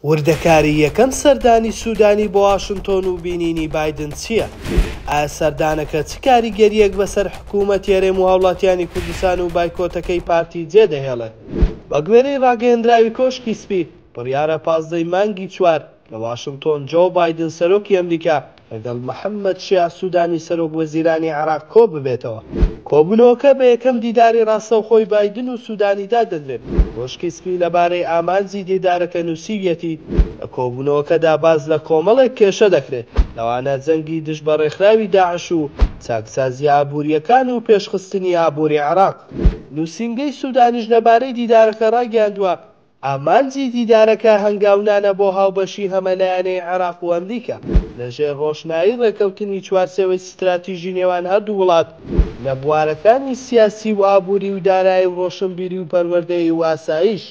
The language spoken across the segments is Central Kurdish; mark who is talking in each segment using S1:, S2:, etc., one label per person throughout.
S1: وردەکاری یەکەم سەردانی سودانی بۆ واشنتۆن و بینینی بایدن چییە؟ ئایا سەردانەکە چ کاریگەرییەک بەسەر حکوومەتی هەرێم و هاوڵاتیانی کوردستان و بایکۆتەکەی پارتی جێدەهێڵێت؟ بەگوێرەی ڕاگەیێنراوی کۆشکی سپی، بڕیارە پازدە ی مانگی چوار لە واشنتۆن جۆو بایدن سەرۆکی ئەمریکا لەگەڵ محەممەد شیاع سوودانی سەرۆک وەزیرانی عێراق کۆببێتەوە. کۆبوونەوەکە بە یەکەم دیداری ڕاستەوخۆی بایدن و سوودانی دادەنرێت. کۆشکی سپی لەبارەی ئامانجی دیدارەکە نووسیویەتی، لە کۆبوونەوەکەدا باس لە کۆمەڵێک کێشە دەکرێت، لەوانە جەنگی دژ بە ڕێکخراوی داعش و چاکسازییە ئابوورییەکان و پێشخستنی ئابووری عێراق. نووسینگەی سوودانیش لەبارەی دیدارەکە ڕایگەیاندووە، ئامانجی دیدارەکە هەنگاونانە بۆ هاوبەشی هەمەلایەنەی عێراق و ئەمریکا لە ژێر ڕۆشنایی ڕێکەوتنی چوارچێوەی ستراتیژی نێوان هەردوو وڵات لە بوارەکانی سیاسی و ئابووری و دارایی و ڕۆشنبیری و پەروەردەیی و ئاسایش.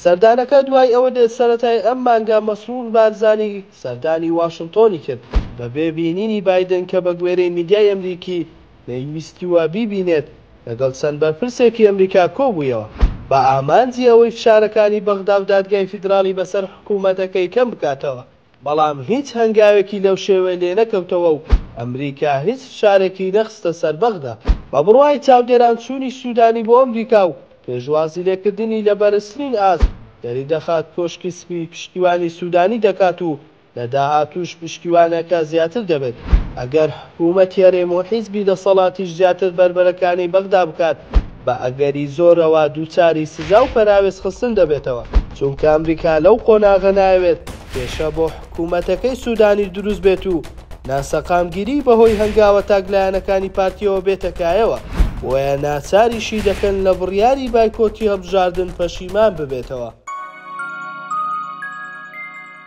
S1: سەردانەکە دوای ئەوە دێت سەرەتای ئەم مانگە مەسرور بارزانی سەردانی واشنتۆنی کرد بەبێ بینینی بایدن کە بەگوێرەی میدیای ئەمریکی، نەیویستووە بیبینێت، لەگەڵ چەند بەرپرسێکی ئەمریکا کۆبوویەوە، بە ئامانجی ئەوەی فشارەکانی بەغدا و دادگای فیدراڵی بەسەر حکومەتەکەی کەم بکاتەوە، بەڵام هیچ هەنگاوێکی لەو شێوەیە لێنەکەوتەوە و ئەمریکا هیچ فشارێکی نەخستە سەر بەغدا. بە بڕوای چاودێران چوونی سوودانی بۆ ئەمریکا و پێشوازیلێکردنی لە بەرزترین ئاست، دەریدەخات کۆشکی سپی پشتیوانی سوودانی دەکات و لە داهاتووش پشتیوانەکە زیاتر دەبێت، ئەگەر حکوومەتی هەرێم و حیزبی دەسەڵاتیش زیاتر بەربەرەکانی بەغدا بکات، بە ئەگەری زۆرەوە دووچاری سزا و پەراوێز خستن دەبێتەوە، چونکە ئەمریکا لەو قۆناغە نایەوێت کێشە بۆ حکوومەتەکەی سوودانی دروست بێت و ناسەقامگیریی بەهۆی هەنگاوە تاکلایەنەکانی پارتییەوە بێتە کایەوە، بۆیە ناچاریشی دەکەن لە بڕیاری بایکۆتی هەڵبژاردن پەشیمان ببێتەوە.